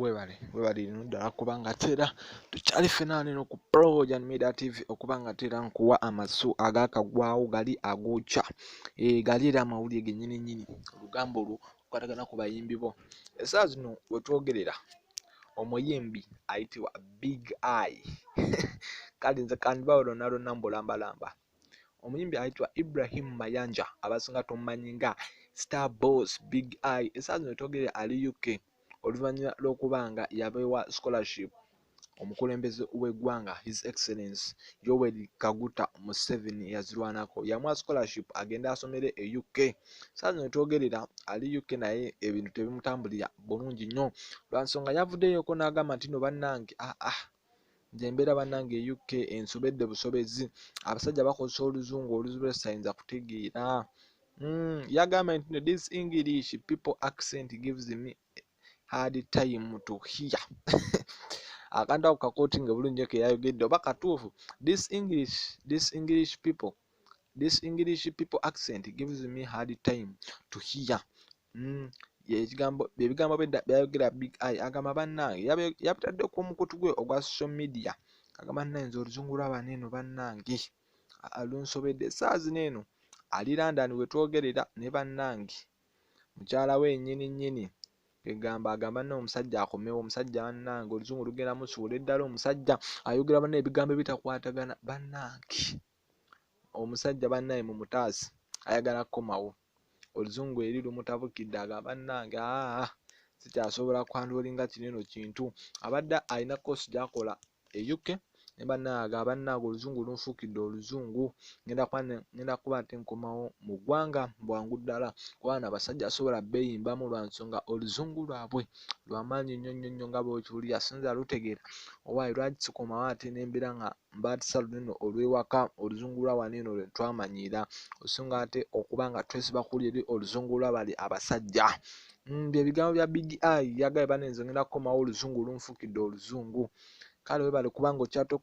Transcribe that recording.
webale webale lino ddala kuba nga tera tukyali fenaane no ku projan media tv okuba nga tera nkuwa amasu agakagwawo gali agokya e, gali era amawulire genyini nyini olugamba olwo okwatagana ku bayimbi bo esaa zino wetwogerera omuyimbi ayitibwa big eye kale nze kandibawo lonalona mbulambalamba omuyimbi ayitibwa ibrahim mayanja abasinga tomumanyi nga star boss big eye esaa zino togere ali uk oluvannyuma lw'okuba nga yabeewa scholarship omukulembeze w'eggwanga his excellence yoweri kaguta museveni yazirwanako yamwa scholarship agenda asomere e uk saa zino twogerera ali uk naye ebintu tebimutambulira bulungi nnyo lwansonga yavuddeyoko n'agamba nti no bannange aa ah, ah, nze mbeera bannange e uk ensobedde busobezi abasajja bakozesa oluzungu oluzibu lwesayinza kutegeera mm, yagambye nti this english people accent gives me hard time to hear akantu ako kakooti nga bulungi nyo keyayogedde oba katuufu this english this english people this english people accent gives me hard time to hear Mm, ekigambo ebigambo byayogera big eye agamba bannange yabitadde ku omukutu gwe ogwa social media agamba nayinza oluzungu lwabana eno bannange alunsobedde esaawa zino eno ali london wetwogerera ne bannange mukyala we nyini nyini egamba agamba no omusajja akomewo omusajja bannange oluzungu lugenda musuula eddala omusajja ayogera banna ebigambo ebitakwatagana bannange omusajja bannaye mumutaasi ayagala kukomawo oluzungu eri lumutabukidde aga bannange aa sikyasobola kwandolinga kineno kintu abadde alina kosi gyakola e uk ne bannaaga abannaage oluzungu lunfuukidde oluzungu ngenda kuba nti nkomawo mu ggwanga bwangu ddala kubana abasajja asobola beeyimbamu lwa nsonga oluzungu lwabwe lwamaanyi nnyo nnyo nnyo nga bwekiwulira sinza lutegeera owaayi lwaki sikomawo ate nembeera nga mbaatisa lunene olw'ewaka oluzungu lwa wano eno lwe twamanyiira osinga ate okuba nga twesiba kuli eri oluzungu lwa bali abasajja mm, bye bigambo bya big i yagaye bane nze ngenda kukomawo oluzungu lunfukidde oluzungu kale webale kubanga okyatoka